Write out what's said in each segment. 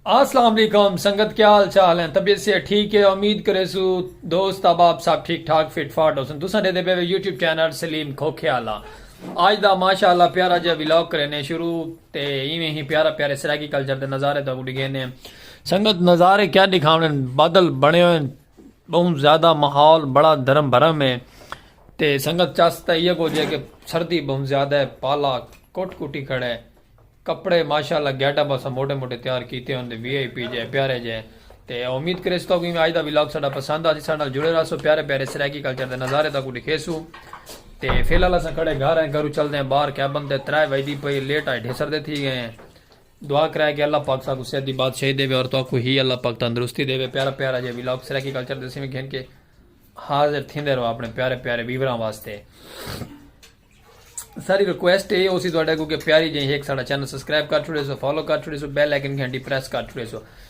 السلام علیکم سنگت کیا حال چال ہیں طبیعت سے ٹھیک ہے امید کرے سو دوست احباب صاحب ٹھیک ٹھاک فٹ فاٹ ہوسن تساں دے دے پے یوٹیوب چینل سلیم کھوکھے والا اج دا ماشاءاللہ پیارا جے ولاگ کرنے شروع تے ایویں ہی پیارا پیارے سرائیکی کلچر دے نظارے تو ڈگے نے سنگت نظارے کیا دکھاونے بادل بنے ہوئے بہوں زیادہ ماحول بڑا درم برم ہے تے سنگت چس تے ایہ کچھ ہے کہ سردی بہوں زیادہ ہے پالا کٹ کٹی کھڑا ہے کپڑے ماشاءاللہ گیٹ اپ اساں موٹے موٹے تیار کیتے ہوندے وی آئی پی جے پیارے جے تے امید کریس تو کہ آج دا ولاگ ساڈا پسند آسی ساڈے نال جڑے رہسو پیارے پیارے سرائیکی کلچر دے نظارے تاکو دکھیسو تے فی الحال اساں کھڑے گھر ہیں گھرو چلدے ہیں باہر کیبن تے ترے وجدی پئی لیٹ آئے ڈھیسر دے تھی گئے ہیں دعا کرائے کہ اللہ پاک ساکوں صحت دی بادشاہی ڈیوے اور تہاکوں ہی اللہ پاک تندرستی ڈیوے پیارا پیارا جیہا ویلاگ سرائیکی کلچر دے سیویں گھن کے حاضر تھیندے رہو اپنے پیارے پیارے ویوراں واسطے ساری ریکویسٹ اے ہوسی تہاڈے اگوں کہ پیاری جیہی ہک ساڈا چینل سبسکرائب کر چھوڑے سو فالو کر چھوڑے سو بیل آئیکن گھنٹی پریس کر چھوڑے سو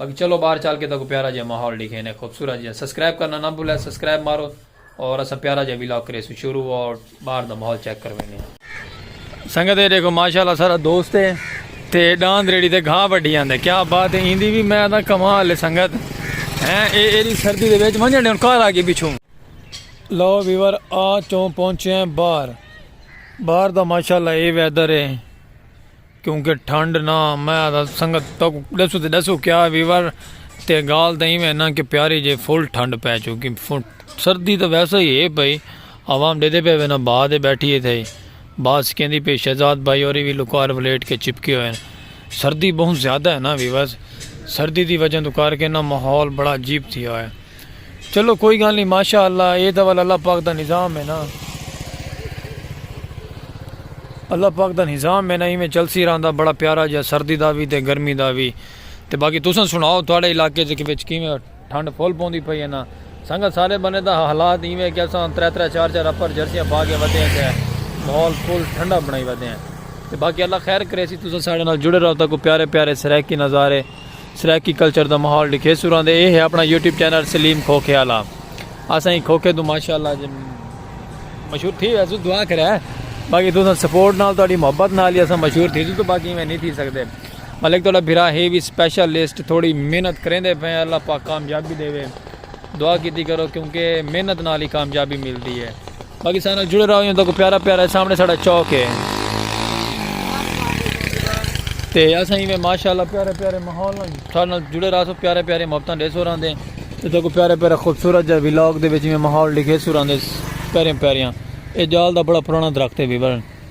باقی چلو باہر چل کے تہاکوں پیارا جیہا ماحول ڈکھینے خوبصورت جیہا سبسکرائب کرنا نہ بھلے سبسکرائب مارو اور اساں پیارا جیہا ولاگ کریسوں شروع اور باہر دا ماحول چیک کروینے ہیں سنگت ہے دیکھو ماشاءاللہ سارا دوست ہے تے ڈاند ریڑی تے گھا وڈی آندے کیا بات ہے ایندی بھی میں دا کمال ہے سنگت ہیں اے ایری سردی دے وچ ونجن ڈیون کار آگے پیچھوں لو ویور آ چوں پہنچے ہیں باہر باہر دا ماشاءاللہ اے ویدر ہے کیونکہ ٹھنڈ نہ میں آدھا سنگت تاکو ڈسو تے ڈسو کیا ویور تے گال تاں ایویں نہ کہ پیاری جے فل ٹھنڈ پے چکی سردی تاں ویسا ہی ہے پئی عوام ڈیدے پے وینا بھا دے بیٹھی ہے تھے بات سکیندی پی شہزاد بھائی اور وی لکار ولیٹ کے چپکے ہوئے سردی بہت زیادہ ہے نہ ویور سردی دی وجہ تو کار کے نہ ماحول بڑا عجیب تھی آیا چلو کوئی گال نہیں ماشاء اللہ اے دول اللہ پاک دا نظام ہے نا اللہ پاک دا نظام ہے نا ایویں چلسی رہندا بڑا پیارا جا سردی دا وی تے گرمی دا وی تے باقی تساں سناؤ تھوڑے علاقے چ وچ کیویں ٹھنڈ پھول پوندی پئی ہے نا سنگا سارے بنے دا حالات ایویں کہ اساں ترے ترے چار چار اپر جرسیاں پا کے ودے ہیں تے ماحول پھول ٹھنڈا بنائی ودے ہیں تے باقی اللہ خیر کرے سی تساں سارے نال جڑے رہو تاکو پیارے پیارے سرائیکی نظارے سرائیکی کلچر دا ماحول ڈکھے سوراں دے اے ہے اپنا یوٹیوب چینل سلیم کھوکھے آلا اساں ہی کھوکھے دو ماشاءاللہ جی مشہور تھی ویسو دعا کرے باقی تو سپورٹ نال تہاڈی محبت نال ہی اساں مشہور تھی تو باقی میں نہیں تھی سکدے ملک تہاڈا بھرا ہے وی سپیشل لسٹ تھوڑی محنت کریندے پے اللہ پاک کامیابی دے وے دعا کیتی کرو کیونکہ محنت نال ہی کامیابی ملدی ہے پاکستان نال جڑے رہو یوں تک پیارا پیارا سامنے ساڑا چوک ہے تے اساں ایویں ماشاءاللہ پیارے پیارے ماحول نال تھارے نال جڑے رہا سو پیارے پیارے محبتاں دے سو راندے تے تکو پیارے پیارے خوبصورت جا ولاگ دے وچ ایویں ماحول دکھے سو راندے پیارے پیاریاں اے جال دا بڑا پرانا درخت ہے بھی بھرن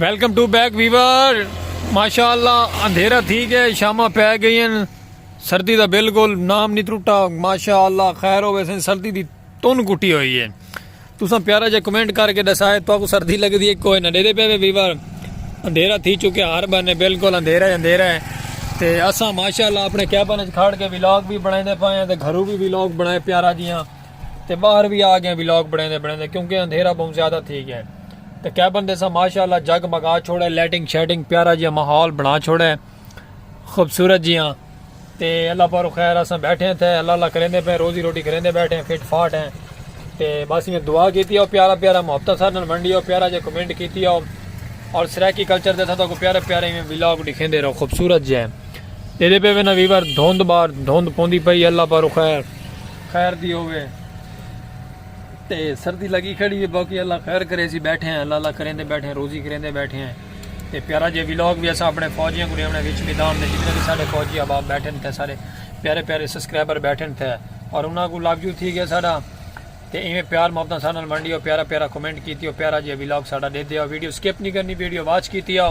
ویلکم ٹو بیک ویور ماشاء اللہ اندھیرا تھی گیا شامہ پی گئی ہیں سردی دا بالکل نام نہیں ترٹا ماشاء اللہ خیر ہو ویسے سردی دی تن کٹی ہوئی ہے تساں پیارا جا کمنٹ کر کے دسائے تو کو سردی لگ دی ہے کوئی نہ دے پہ ویور اندھیرا تھی چکے ہر بنے بالکل اندھیرا اندھیرا ہے تے اساں ماشاءاللہ اپنے کیبن وچ کھڑ کے ولاگ بھی بنائے دے پائے ہیں تے گھروں بھی ولاگ بنائے پیارا جیاں تے باہر وی آ گئے ولاگ بنڑیندے بنڑیندے کیونکہ اندھیرا بہوں زیادہ تھی گئے تے کیبن دے سا ماشاءاللہ جگ مگا چھوڑے لیٹنگ شیٹنگ پیارا جیاں ماحول بنا چھوڑے خوبصورت جیاں تے اللہ پارو خیر اساں بیٹھے ہیں تھے اللہ اللہ کریندے پہ روزی روٹی کریندے بیٹھے ہیں فٹ فاٹ ہیں تے بس میں دعا کیتی ہو پیارا پیارا محبت سر نال منڈی ہو پیارا جے کمنٹ کیتی ہو اور سرائیکی کلچر دے تھا تو کو پیارے پیارے میں ولاگ دکھیندے رہو خوبصورت جے ہیں دے دے پہ وینا ویور دھوند بار دھوند پوندی پئی اللہ پارو خیر خیر دی ہووے تے سردی لگی کھڑی ہے باقی اللہ خیر کرے سی بیٹھے ہیں اللہ اللہ کریندے بیٹھے ہیں روزی کریندے بیٹھے ہیں تے پیارا جے ویلوگ بھی اسا اپنے فوجیاں کو ریونے وچ میدان دے جتنے بھی سارے فوجی اب آپ بیٹھے تھے سارے پیارے پیارے سبسکرائبر بیٹھے تھے اور انہاں کو لب جو تھی گیا سارا تے ایویں پیار محبت سارے نال منڈی ہو پیارا پیارا کمنٹ کیتی ہو پیارا جے ویلوگ سارا دے دیا ویڈیو سکپ نہیں کرنی ویڈیو واچ کیتی ہو